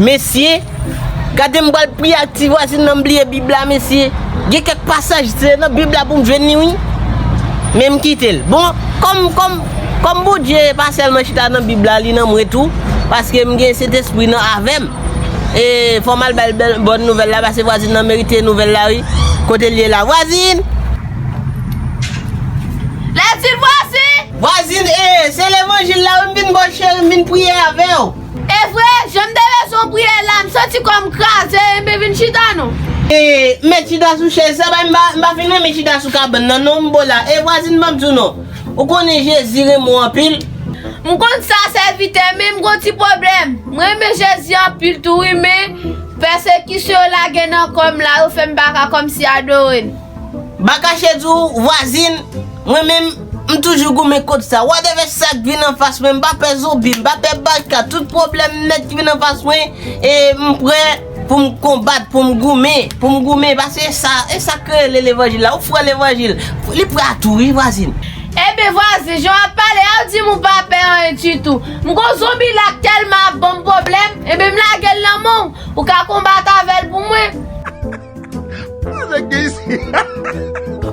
Mesye, gade m pral priye ak ti vwazin nan m bliye bib la mesye, gen kèk pasaj se nan bib la pou m jwenn li wi, men m kite l, bon kòm kòm kòm Bondye pa sèlman chita nan bib la li nan mwen tou, paske m gen sentespri nan avè m, e fò m al bay l bòn nouvèl la paske vwazin nan merite nouvèl la wi, kote l ye la vwazin! Vwazin ee, se levanjil la wi m vin baw cheri m vin priye avèw. Evre, janm te bezwen priye la, m santi kòm kraze enben vin chita non. Ee, m met chita sou chèz sa bay m pa, m pa fin renmen chita sou kabann nan non m bo la, ee vwazin banm diw non, ou konnen Jezi renmen w anpil. M konn sa sèvitè men m gon ti pwoblèm, m renmen Jezi anpil tou wi men pèsekisyon yo lage nan kòm la yo fèm paka kòmsi adore l. Bakache di w, vwazin, mwen menm, m toujou goumen kont sa. Whatever sa k vin anfas mwen, m pa pè zonbi, m pa pè baka, tout pwoblèm nèt ki vin anfas mwen, e m prè pou m konbat, pou m goumen, pou m goumen, paske e sa, e sa k rele levanjil la, ou fwè levanjil, li prè a tou wi vwazin. Ebyen vwazin, jan w ap pale a, ou di m ou pa pè anyen ditou. M kon zonbi la k tèlman ap ban m pwoblèm, ebyen m lage l nan men w, ou ka konbat avè l pou mwen.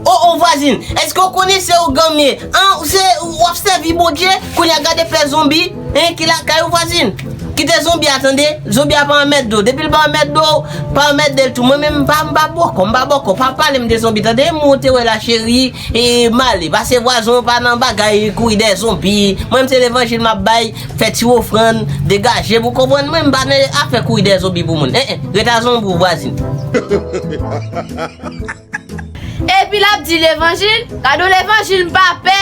Oh oh vwazin eske ou konnen se ougan m ye an ou se wap sèvi bondye kounya gade fè zonbi hein ki lakay ou vwazin kite zonbi a tande zonbi a pa anmède w depi l pa anmède w pa anmède l tou mwen menm m pa bòkò m pa bòkò pa pale m de zonbi tande moun ou te wè la cheri Eee male pase vwazon ou pa nan bagay kouri dèyè zonbi mwen m se levanjil map bay fè ti ofrann degajem ou konprann mwen m pa nan afè kouri dèyè zonbi pou moun en en ret a zonbi w vwazin. Epi lap di levanjil, gadon levanjil m pa pè.